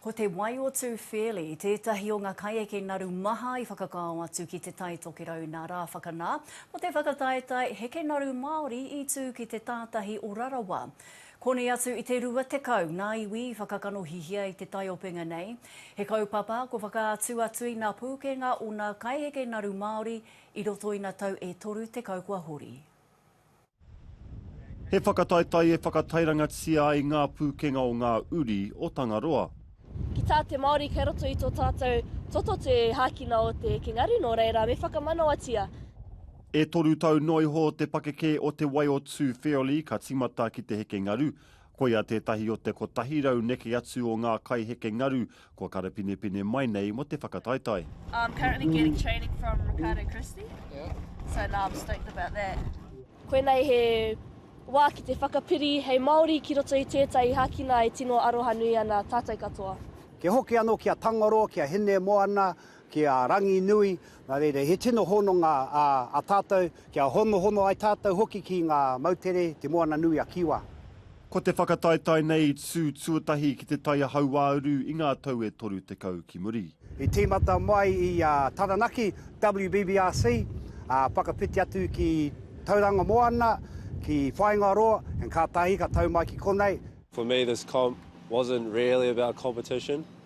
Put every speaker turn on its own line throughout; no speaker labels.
Ko Te Wai-o-Tū Fairlie tētahi o ngā kaieke naru maha i whakakao atu ki Te Tai Tokerau nā Rāwhakanā mō te whakataetae heke naru Māori i tū ki te tātahi o Rarawa. Koni atu i te 20 ngā iwi i whakakanohihia i te taiopenga nei. He kaupapa ko whakaatu atu i ngā pūkenga o ngā kaieke naru Māori i roto i ngā tau e toru tekau kua hori.
He whakataetae e whakatairangatia ai ngā pūkenga o ngā uri o Tangaroa. Ki tā te
Māori kei roto i tō tātou toto te hākina o te King Aru, nō reira, me whakamanawatia. E
toru tau noa iho te pakeke o Te Wai o Tū Wheoli ka tīmata ki te heke ngaru. Koia tētahi o te kotahi rau neke atu o ngā kai heke ngaru Kua karapinepine mai nei mo te whakataetae. I'm currently getting
training from Ricardo Christie. Yeah. So now I'm stoked about that. Koinei he
wā ki te whakapiri hei Māori ki roto i tētahi hākina e tino arohanui ana tātou katoa. Kia hoki anō
ki a Tangaroa, ki a Hinemoana, Ki a Ranginui, nā reira, he tino hononga a tātou, kia honohono ai tātou hoki ki ngā moutere, Te Moana-nui-a-Kiwa. Ko te
whakataetae nei i tū tuatahi ki te taia hauāuru i ngā tau e 30 ki muri. I tīmata
mai i a Taranaki, WBBRC, ā, whakawhiti atu ki Tauranga Moana, ki Whāingaroa, and kātahi ka tau mai ki konei. For me this comp
wasn't really about competition.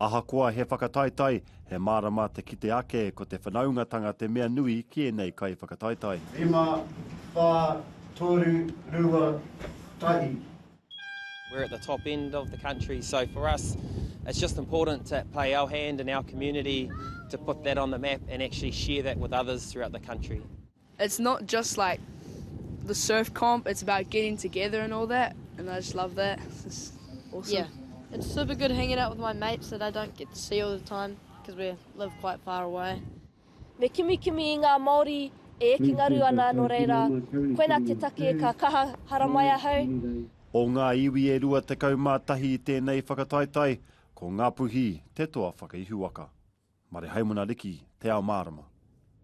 Ahakoa
he whakataetae, he mārama te kite ake ko te whanaungatanga te mea nui ki ēnei kaiwhakataetae. Rima,
whā, toru, rua, tahi.
We're at the top end of the country so for us it's just important to play our hand in our community to put that on the map and actually share that with others throughout the country. It's not
just like the surf comp, it's about getting together and all that and I just love that, it's just awesome. Yeah, it's super
good hanging out with my mates that I don't get to see all the time because we live quite far away. Me
kimikimi i ngā Māori e eke ngaru ana nō reira, koinā te take ka kaha haramai ahau. O ngā iwi
e 21 i tēnei whakataetae, ko Ngapuhi te toa whakaihuwaka. Marehaimana Riki, Te Ao Mārama.